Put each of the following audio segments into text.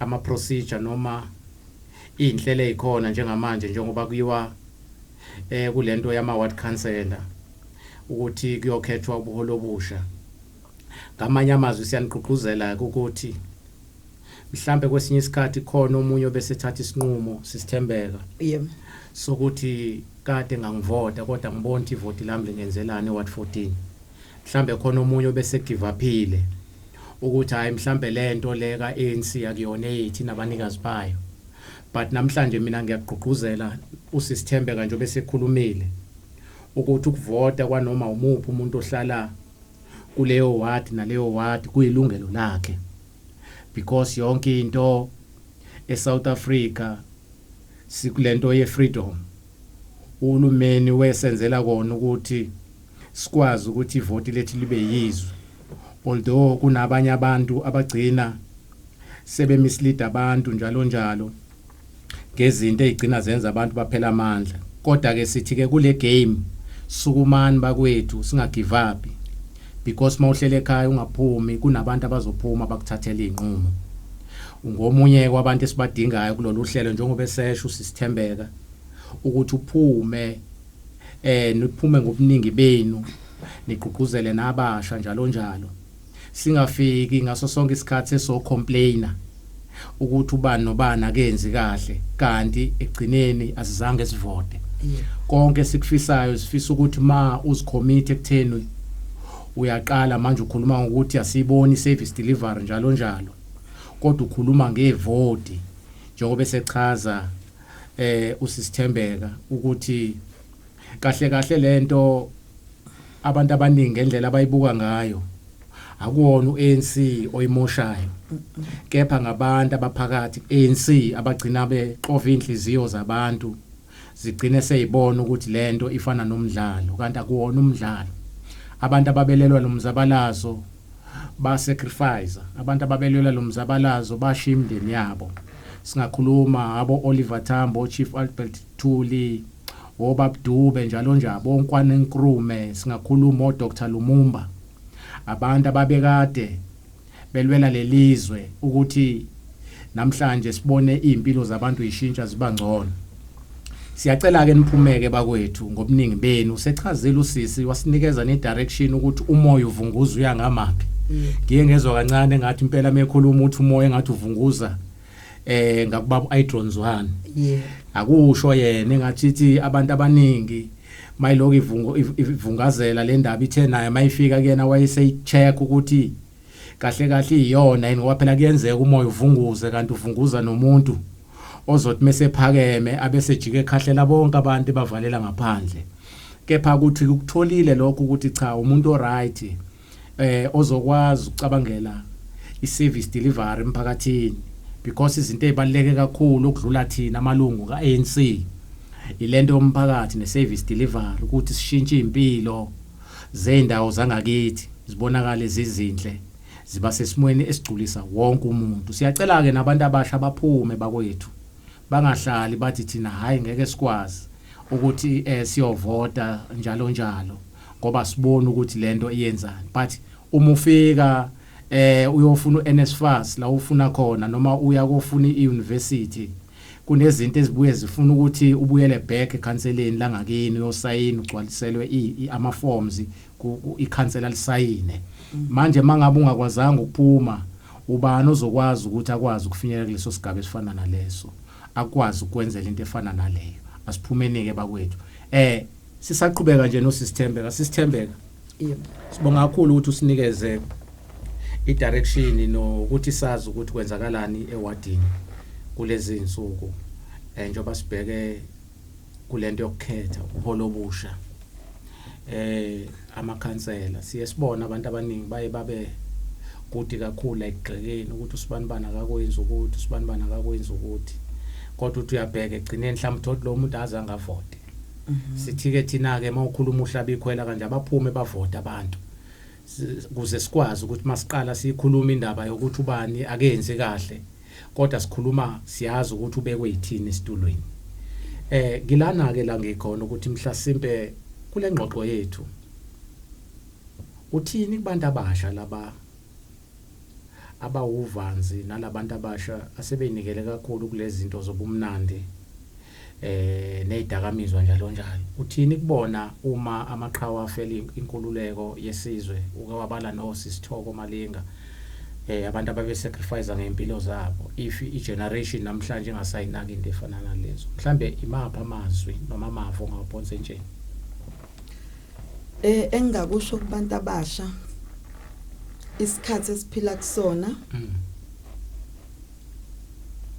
ama procedure noma izinhlelo ezikhona njengamanje njengoba kuyiwa eh kulento yama ward councillor ukuthi kuyokhethwa ubuholi obusha ngamanye amazwi siyanigqugquzela ukuthi mhlambe kwesinye isikhathi khona omunye obesethatha isinqumo sisithembeka yebo sokuthi kade ngangivota kodwa ngibona ukuthi ivoti lami lingenzelani eWard 14 mhlambe khona omunye obese give upile ukuthi hayi mhlambe lento le ka ANC akuyona eyithi nabanikazi bayo but namhlanje mina ngiyagqugquzela usisithembe kanje obesekhulumile ukuthi ukuvota kwanoma umuphi umuntu ohlala kuleyo ward naleyo ward kuyilungelo lakhe because yonke into eSouth Africa sikulento yefreedom uhulumeni wesenzela kona ukuthi sikwazi ukuthi ivoti lethu libe yizwe Although kunabanye abantu abagcina sebe mislead abantu njalo njalo ngezinto ezigcina zenza abantu baphela amandla kodwa ke sithi ke kule game sukumani bakwethu singagive up because mawuhlele ekhaya ungaphumi kunabantu abazophuma bakuthathela izinqumo ngomunye kwabantu esibadingayo kulolu hlelo njengoba esesho usisithembeka ukuthi uphume eh niphume ngobuningi benu nigqugquzele nabasha njalo njalo singafiki ngaso sonke isikhathi eso complainer ukuthi ubani nobani akenzi kahle kanti egcineni asizange sivote konke sikufisayo sifisa ukuthi ma uzikhomithe ekutheni uyaqala manje ukhuluma ngokuthi asiyiboni service delivery njalo njalo kodwa ukhuluma ngevoti njengoba esechaza eh usisithembeka ukuthi kahle kahle lento abantu abaningi ngendlela abayibuka ngayo akuwona uANC oyimoshayo kepha ngabantu abaphakathi ANC abagcina bexova inhliziyo zabantu zigcine seyibona ukuthi lento ifana nomdlalo kanti akuwona umdlalo abantu ababelelwa nomzabalazo ba sacrifice abantu ababelwela lo mzabalazo bashiya imindeni yabo singakhuluma abo Oliver Tambo Chief Albert Thuli obabdube njalo nje abonkwane Nkrume singakhuluma o Dr Lumumba abantu ababekade belwela lelizwe ukuthi namhlanje sibone izimpilo zabantu ishintsha ziba ngcono Siyacela ke niphumeke bakwethu ngobuningi benu sechazile usisi wasinikeza ne direction ukuthi umoya uvunguza uya ngamaphi. Ngiye ngezwa kancane ngathi impela mekhuluma uthi umoya engathi uvunguza eh ngakubaba uIdrons one. Yeah. Akusho yena engathi ithi abantu abaningi mayiloko ivungazela le ndaba ithe naye mayifika kuyena wayeseyicheck ukuthi Kahle kahle iyona yini ngoba phela kuyenzeka umoya uvunguze kanti uvunguza nomuntu ozothi mesephakeme abese jike ekhahlela bonke abantu bavalela ngaphandle kepha ukuthi ukutholile lokho ukuthi cha umuntu oright eh ozokwazi ukucabangela iservice delivery emphakathini because izinto ezibaleke kakhulu okudlula thina amalungu kaANC ilento yomphakathi neservice delivery ukuthi sishintshe impilo zeendawo zangakithi zibonakale zizinhle ziba sesimweni esigculisa wonke umuntu siyacela ke nabantu abasha baphume bakwethu bangahlali bathi thina hayi ngeke sikwazi ukuthi eh siyovota njalo njalo ngoba sibona ukuthi lento iyenzani but uma ufika eh uyofuna uNSFAS la ufuna khona noma uya kofuna iuniversity kunezinto ezibuye zifuna ukuthi ubuyele back ekhanseleni langakini uyosayina ugcwaliselwe ama forms ikhansela lisayine mm. manje mangabe ungakwazanga ukuphuma ubani ozokwazi ukuthi akwazi ukufinyelela kuleso sigaba esifana naleso akwazi ukwenzela into efana naleyo asiphumenike bakwethu eh Sisaqhubeka nje no Sisithembeka, Sisithembeka. Yebo. Sibonga kakhulu ukuthi usinikeze idirection nokuthi sazi ukuthi kwenzakalani ewadini kulezi insuku eh njengoba sibheke kulento yokukhetha uholo obusha eh amakhansela siye sibona abantu abaningi baye babe kude kakhulu ekugxekeni ukuthi usibani bana akakwenzi ukuthi usibani bana akakwenzi ukuthi kodwa uthi uyabheka egcineni mhlawumbe uthi lo muntu aze angavote Mhm. sithike thina ke mawukhuluma uhlaba ikhwela kanje abaphume bavota abantu S- kuze sikwazi ukuthi masiqala sikhuluma indaba yokuthi ubani akenzi kahle kodwa sikhuluma siyazi ukuthi ubekwe yithini esitulweni eh ngilana ke la ngikhona ukuthi mhlasimpe kule ngxoxo yethu uthini kubantu abasha laba abawuvanzi nalabantu abasha asebeyinikele kakhulu kulezinto zobumnandi eh nezidakamizwa njalo njalo uthini kubona uma amaqhawe afela inkululeko yesizwe uke wabala no sisithoko malinga eh abantu ababe sacrifice ngempilo zabo if i generation namhlanje ingasayinaki into efana nalezo mhlambe imapha amazwi noma amavo ngaphonse entsheni Eh engingakusho kubantu abasha isikhathi esiphila kusona mm.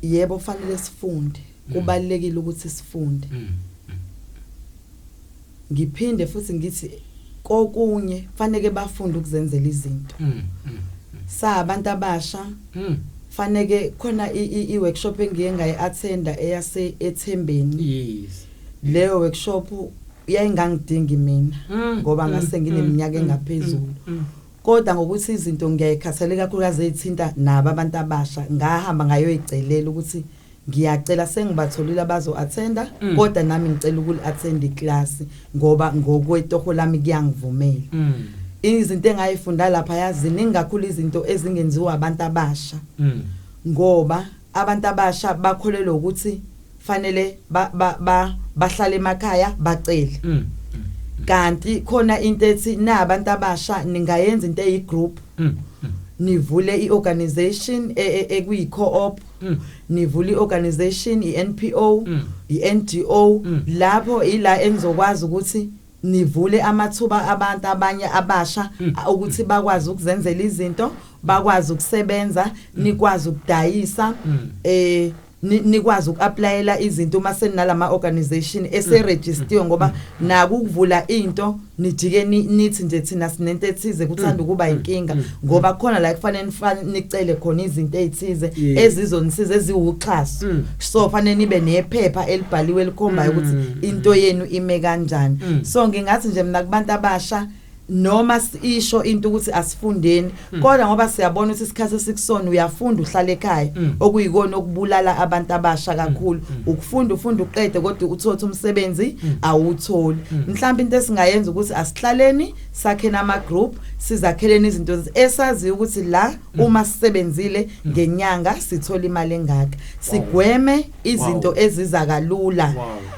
yebo fanele sifunde mm. kubalekile ukuthi sifunde mm. ngiphinde futhi ngithi kokunye fanele bafunde ukuzenzela izinto sa abantu abasha fanele khona i workshop engiye ngayi attenda eyase ethembeni yes leyo workshop yayingangidingi mina mm, ngoba mm, ngase ngineminyaka mm, engaphezulu kodwa ngokuthi izinto ngiyayikhathalela kakhulukazi ezithinta nabo abantu abasha ngahamba ngayoyicelela ukuthi ngiyacela sengibatholile abazo-athenda mm. kodwa nami ngicela ukuli-athenda ikilasi ngoba ngokwetoho lami kuyangivumela mm. izinto engayifunda lapha yazini ingakhulu izinto ezingenziwa abantu abasha mm. ngoba Abantu abasha bakholelwa ukuthi fanele ba, ba, ba, bahlale emakhaya bacele. Mm. mm. Kanti khona into ethi na abantu abasha ningayenza into eyi group. Mm. mm. nivule iorganization e, e, ekuyi co-op mm. nivule iorganization iNPO mm. iNGO mm. lapho ila enizokwazi ukuthi nivule amathuba abantu abanye abasha mm. ukuthi bakwazi ukuzenzela izinto bakwazi ukusebenza mm. nikwazi ukudayisa mm. eh nikwazi ukuapplyela izinto uma senalama organization eseregistiwe ngoba naku ukuvula into nijike nithi nje thina sinento ethize kuthanda ukuba inkinga ngoba khona la kufanele nicele khona izinto ezithize ezizonisiza eziwuxhaso mm. so fanele nibe nephepha elibhaliwe elikhombayo ukuthi mm. into yenu ime kanjani mm. so ngingathi nje mina kubantu abasha noma isho into ukuthi asifundeni mm. kodwa ngoba siyabona ukuthi isikhathi esikusona uyafunda uhlala ekhaya mm. okuyikona okubulala abantu abasha mm. kakhulu ukufunda ufunda uqede kodwa uthotha umsebenzi awutholi mhlawumbe into esingayenza ukuthi asihlaleni sakhena ama group sizakheleni izinto esaziyo ukuthi la mm. uma sisebenzile mm. ngenyanga sithola imali engaka sigweme izinto eziza kalula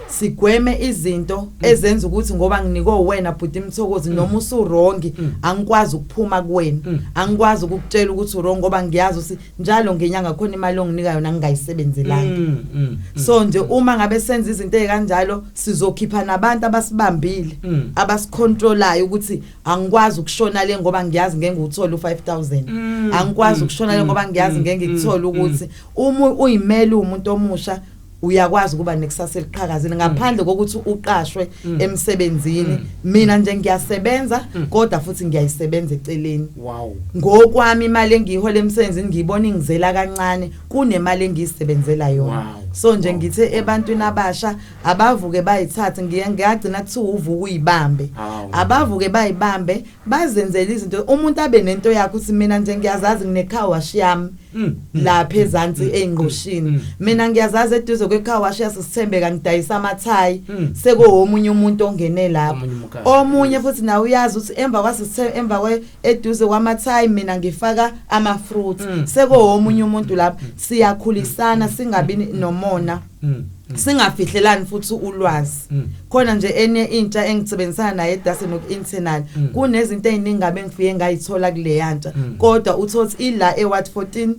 sigweme izinto mm. ezenza ukuthi ngoba nginike wena bhuti imthokozi noma usurongi angikwazi ukuphuma kuwena angikwazi ukukutshela ukuthi urongi ngoba ngiyazi ukuthi njalo ngenyanga khona imali onginika yona ngingayisebenzelanga mm, mm, mm, so nje uma ngabe senza izinto ezikanjalo sizokhipha nabantu abasibambile mm. abasicontrolayo ukuthi angikwazi ukushona le ngoba ngiyazi ngeke uthole u5000 mm, angikwazi mm, ukushona le mm, ngoba ngiyazi mm, ngeke ngikuthola mm, ukuthi uma uyimele umuntu omusha uyakwazi ukuba nekusasa eliqhakazile ngaphandle kokuthi uqashwe Mm. emsebenzini Mm. mina nje ngiyasebenza Mm. kodwa futhi ngiyayisebenza eceleni wow ngokwami imali engiyihola emsebenzini ngiyibona ingizela kancane kunemali engiyisebenzela yona Wow. so nje Wow. ngithe ebantwini abasha abavuke bayithathe ngiye ngiyagcina kuthiwa uvuka uyibambe Hawu. abavuke bayibambe bazenzela izinto umuntu abe nento yakhe ukuthi mina nje ngiyazazi nginecar wash yami mm, mm, lapha mm, ezantsi eingqushini mina ngiyazazi eduze kwecar wash yasisithembeka ngidayisa amathayi sekowomunye umuntu ongene lapho omunye futhi nawe uyazi ukuthi emva kwasisithembe emva kwe eduze kwamathayi mina ngifaka ama fruits sekowomunye umuntu lapho siyakhulisana singabi nomona Mm, mm. singafihlelani futhi ulwazi mm. khona nje enye intsha engisebenzisana naye edase noku-internal mm. kunezinto ey'ningabe ngifike ngayithola kuleya ntsha mm. kodwa uthothi ila ewat 14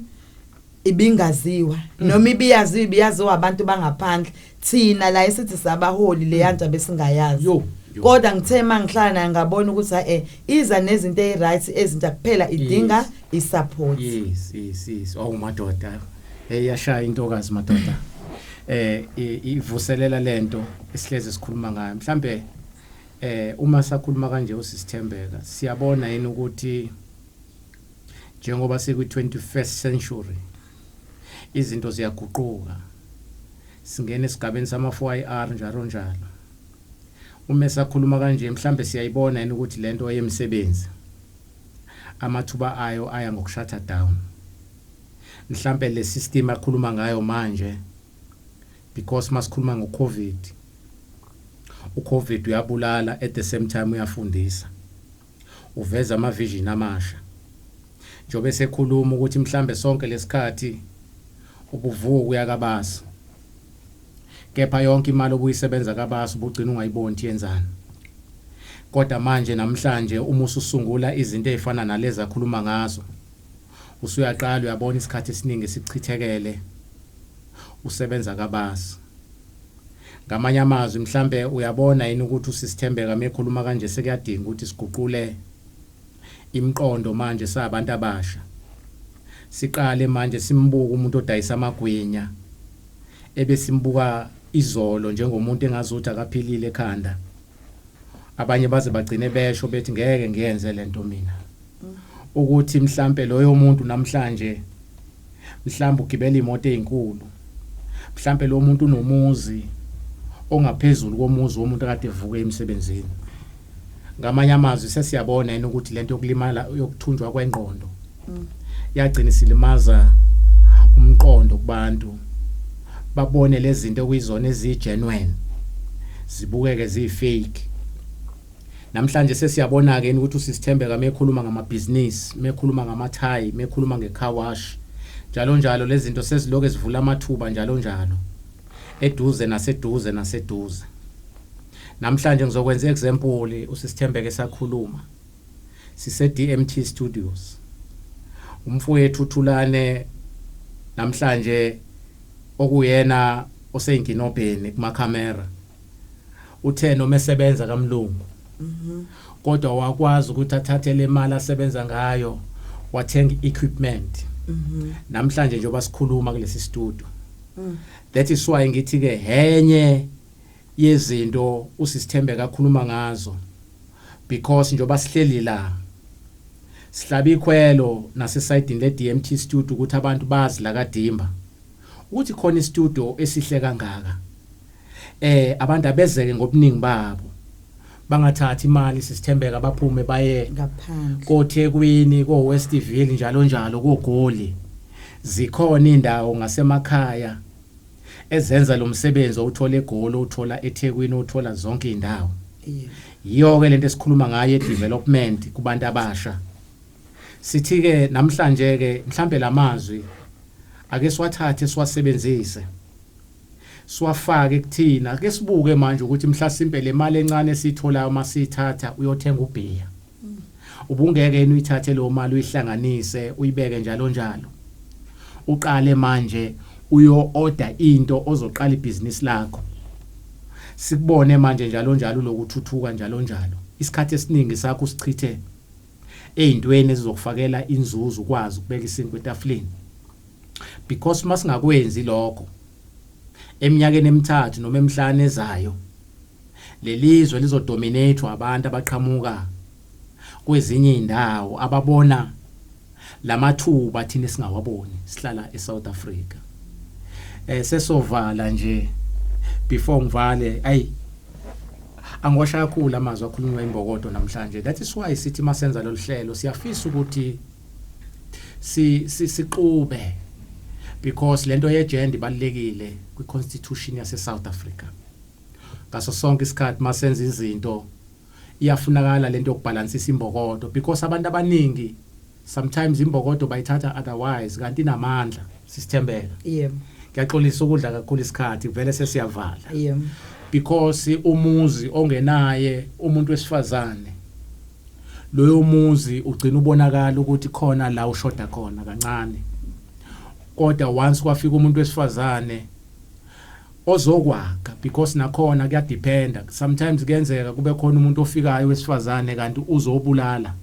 ibingaziwa mm. noma ibiyaziwa ibiyaziwa abantu bangaphandle thina la esithi sabaholi leya ntsha besingayazi Yo. kodwa ngithe uma ngihlala naye ngabona ukuthi ha-e eh, iza nezinto eyi-right ezintsha kuphela idinga yes. i-support yes yes yes awumadoda oh, hey yashaya intokazi madoda eh ivuselela lento esihleze sikhuluma ngayo mhlambe eh uma sakhuluma kanje usisithembeka siyabona yini ukuthi njengoba sikwi 21st century izinto ziyaguquka singena esigabeni sama 4IR njalo njalo uma sakhuluma kanje mhlambe siyayibona yini ukuthi lento yemisebenzi amathuba ayo aya ngokushatha down Mhlampe le system akhuluma ngayo manje because masikhuluma ngo Covid u Covid uyabulala at the same time uyafundisa uveza ama vision amasha njobe sekhuluma ukuthi mhlambe sonke lesikhathi ubuvuka uyakabazi kepha yonke imali obuyisebenza kabazi ubugcina ungayiboni yenzani kodwa manje namhlanje uma ususungula izinto ezifana nalezi akhuluma ngazo Usuyaqala uyabona isikhathi esiningi esichithekele usebenza kabasi. Ngamanye amazwi mhlampe uyabona yini ukuthi uSisithembeka mekhuluma kanje sekuyadinga ukuthi siguqule imiqondo manje sabantu abasha. Siqale manje simbuke umuntu odayisa amagwinya ebesimbuka izolo njengomuntu engazuthi akaphilile ekhanda. Abanye baze bagcine besho bethi ngeke ngiyenze lento mina. ukuthi mhlampe loyo muntu namhlanje mhlambe ugibela imoto ezinkulu mhlampe lo muntu unomuzi ongaphezulu komuzi womuntu akade evuke emsebenzini ngamanye amazwi sesiyabona yini ukuthi lento yokulimala yokuthunjwa kwengqondo mm. yagcina silimaza umqondo kubantu babone lezi zinto okuyizona eziyi-genuine zibukeke ziyi-fake Namhlanje sesiyabona-ke yini ukuthi usisithembeka mekhuluma ngamabhizinisi, mekhuluma ngamathayi, mekhuluma nge-car wash, njalo njalo lezi zinto seziloke zivula amathuba njalo njalo. Eduze naseduze naseduze. Namhlanje ngizokwenza i-example usisithembeka esakhuluma. Sise-DMT Studios. Umfowethu uThulane namhlanje okuyena oseyinkinobheni kuma-camera. uthe noma esebenza kamlungu kodwa wakwazi ukuthi athathe le mali asebenza ngayo wathenga i-equipment namhlanje njengoba sikhuluma kulesi studio that is why ngithi ke henye yezinto usisithembeka akhuluma ngazo because njengoba sihleli la sihlaba ikhwelo nasesayidini le-DMT studio ukuthi abantu bazi la kadimba ukuthi khona istudio esihle kangaka eh abantu abezeke ngobuningi babo bangathathi imali sisithembeka baphume baye ngaphandle koThekwini ko Westville njalo njalo kogoli zikhona indawo ngasemakhaya ezenza lo msebenzi owuthola egoli uthola eThekwini uthola zonke indawo yiyo ke lento esikhuluma ngayo development kubantu abasha sithi ke namhlanje ke mhlambe lamazwi ake siwathathe siwasebenzise siwafake kuthina. Ake sibuke manje ukuthi mhlasimpe le mali encane esiyitholayo uma siyithatha uyothenga ubhiya. Ubungeke yini uyithathe leyo mali uyihlanganise uyibeke njalo njalo. Uqale manje uyo-oda into ozoqala ibhizinisi lakho. Sikubone manje njalo njalo uloku uthuthuka njalo njalo. Isikhathi esiningi sakho usichithe ey'ntweni ezizokufakela inzuzo ukwazi ukubeka isinkwa etafuleni. because masingakwenzi lokho eminyakeni emithathu noma emihlanu ezayo lelizwe lizodominate abantu abaqhamuka kwezinye indawo ababona lamathuba thina singawaboni sihlala eSouth Africa eh sesovala nje before ngivale ay angiwasha kakhulu amazwi akhulunywa imbokodo namhlanje that is why sithi masenza lolu hlelo siyafisa ukuthi si siqube because lento ye gender ibalekile kwi constitution yase South Africa ngaso sonke isikhathi masenza izinto iyafunakala lento yokubhalansisa imbokodo because abantu abaningi sometimes imbokodo bayithatha otherwise kanti inamandla sisithembeka yebo ngiyaxolisa ukudla kakhulu isikhathi vele sesiyavala yebo because umuzi ongenaye umuntu wesifazane loyo muzi ugcina ubonakala ukuthi khona la ushoda khona kancane kodwa once kwafika umuntu wesifazane ozokwakha because nakhona kuyadependa sometimes kuyenzeka kube khona umuntu ofikayo wesifazane kanti uzobulala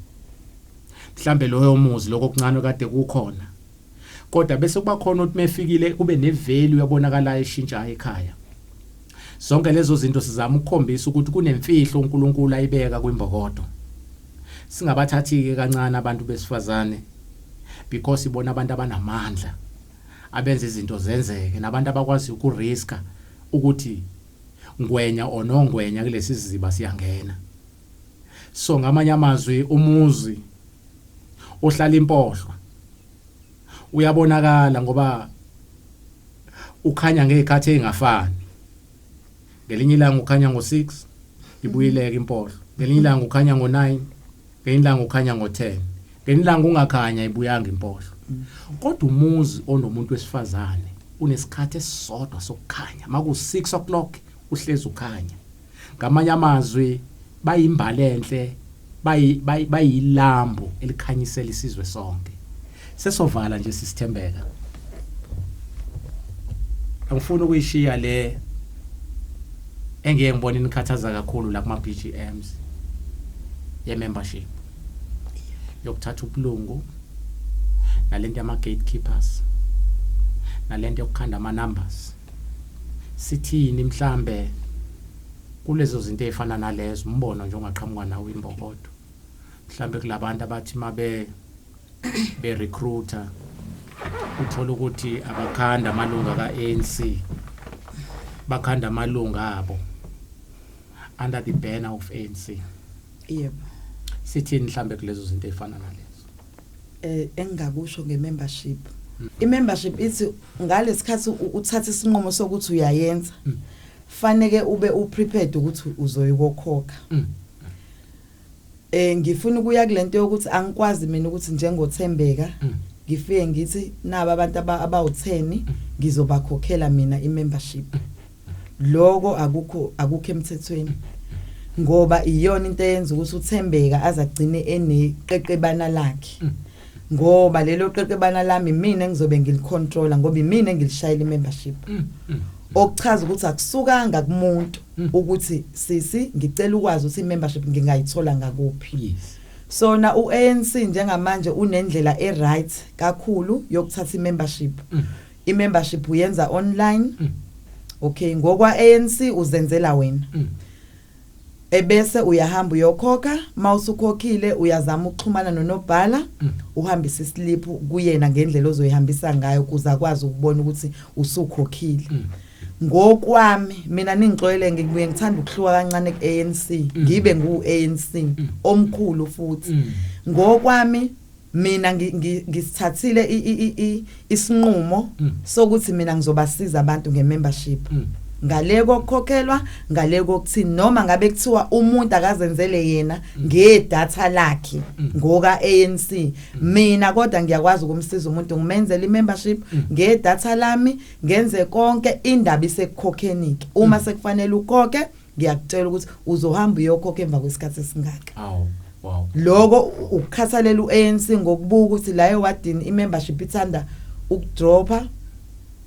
mhlambe loyo muzi lokho kuncane kade kukhona kodwa bese kuba khona ukuthi mefikile kube nevalue yabonakalayo eshintshayo ekhaya Zonke lezo zinto sizama ukukhombisa ukuthi kunemfihlo uNkulunkulu ayibeka kwimbokodo. Singabathathike kancane abantu besifazane because ibona abantu abanamandla abenza izinto zenzeke nabantu abakwazi ukuriska ukuthi ngwenya or nongwenya kulesi siziba siyangena. So ngamanye amazwi umuzi ohlala impohlwa uyabonakala ngoba ukhanya ngezikhathi ezingafani ngelinye ilanga ukhanya ngo6 ibuyileke impohlo ngelinye ilanga ukhanya ngo9 ngelinye ilanga ukhanya ngo10 ngelinye ilanga ungakhanya ibuyanga impohlo kodwa umuzi onomuntu wesifazane unesikhathi esisodwa sokukhanya maku 6 o'clock uhlezi ukhanya Ngamanye amazwi bayimbali enhle bayilambu elikhanyisela isizwe sonke sesovala nje sisithembeka angifuni ukuyishiya le engeke ngibone nikhathaza kakhulu la kuma BGMs ye membership yokuthatha ubulungu nalento yama gatekeepers nalento yokukhanda ama numbers sithini mhlambe kulezo zinto ezifana nalezo umbono nje ongaqhamuka nawo imbokodo mhlambe kulabantu abathi mabe be recruiter uthola ukuthi abakhanda amalunga kaANC bakhanda amalunga abo under the banner of ANC yebo sithini mhlambe kulezo zinto ezifana nalezo eh engingakusho ngemembership mm. imembership ithi ngalesikhathi uthatha isinqumo sokuthi uyayenza mm. faneke ube uprepared ukuthi uzoyikhokha mm. eh ngifuna ukuya kulento yokuthi angikwazi mina ukuthi njengothembeka mm. ngifike ngithi naba abantu abawutheni mm. ngizobakhokhela mina imembership mm. lokho akukho akukho emthethweni ngoba iyona into eyenza ukuthi uthembeka azagcine eneqeqebana lakhe mm. ngoba lelo qeqebana lami mina engizobe ngilicontrola ngoba imina engilishayela imembership mm, mm. okuchaza ukuthi akusukanga kumuntu ukuthi sisi ngicela ukwazi ukuthi imembership ngingayithola ngakuphi yes sona uANC njengamanje unendlela eright kakhulu yokuthatha imembership mm. I membership uyenza online. Mm. Okay, ngokwa ANC uzenzela wena. Mm. ebese uyahamba uyokhokha mawusukhokhile uyazama ukuxhumana nonobhala mm. uhambisa islip kuyena ngendlela ozoyihambisa ngayo kuze akwazi ukubona ukuthi usukhokhile mm. ngokwami mina ningixoyele ngibuye ngithanda ukuhluka kancane ku ANC mm. ngibe ngu ANC omkhulu futhi ngokwami mina ngisithathile isinqumo mm. sokuthi mina ngizobasiza abantu ngemembership mm. ngale kokukhokhelwa ngale kokuthini noma ngabe kuthiwa umuntu akazenzele yena mm. ngedata lakhe ngoka ANC mina kodwa ngiyakwazi ukumsiza umuntu ngimenzele imembership ngedata lami ngenze konke indaba isekukhokheni ke uma sekufanele ukhokhe ngiyakutshela ukuthi uzohamba uyokhokha emva kwesikhathi esingaka awu wow lokho ukukhathalela uANC ngokubuka ukuthi la ewadini imembership ithanda ukudropha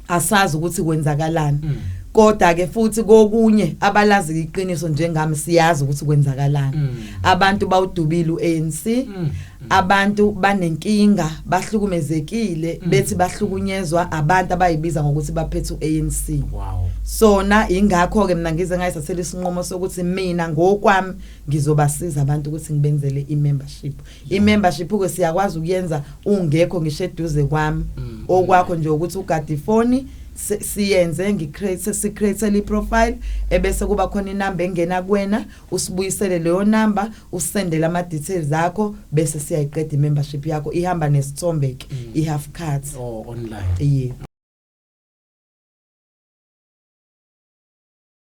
asazi ukuthi kwenzakalani mm. kodwa ke futhi kokunye abalazi iqiniso njengami siyazi ukuthi kwenzakalani mm. abantu bawudubile uANC mm. abantu banenkinga bahlukumezekile mm. bethi bahlukunyezwa abantu abayibiza ngokuthi baphethe uANC wow sona ingakho ke mina ngize ngayisasela isinqumo sokuthi mina ngokwami ngizobasiza abantu ukuthi ngibenzele imembership imembership ke siyakwazi ukuyenza ungekho ngisho eduze kwami mm. okwakho nje ukuthi ugadifoni siyenze ngicreate sicreate le profile ebese kuba khona inamba engena kuwena usibuyisele leyo number usendele ama details akho bese siyayiqeda membership yakho ihamba nesithombe ke mm. i half card oh online yeah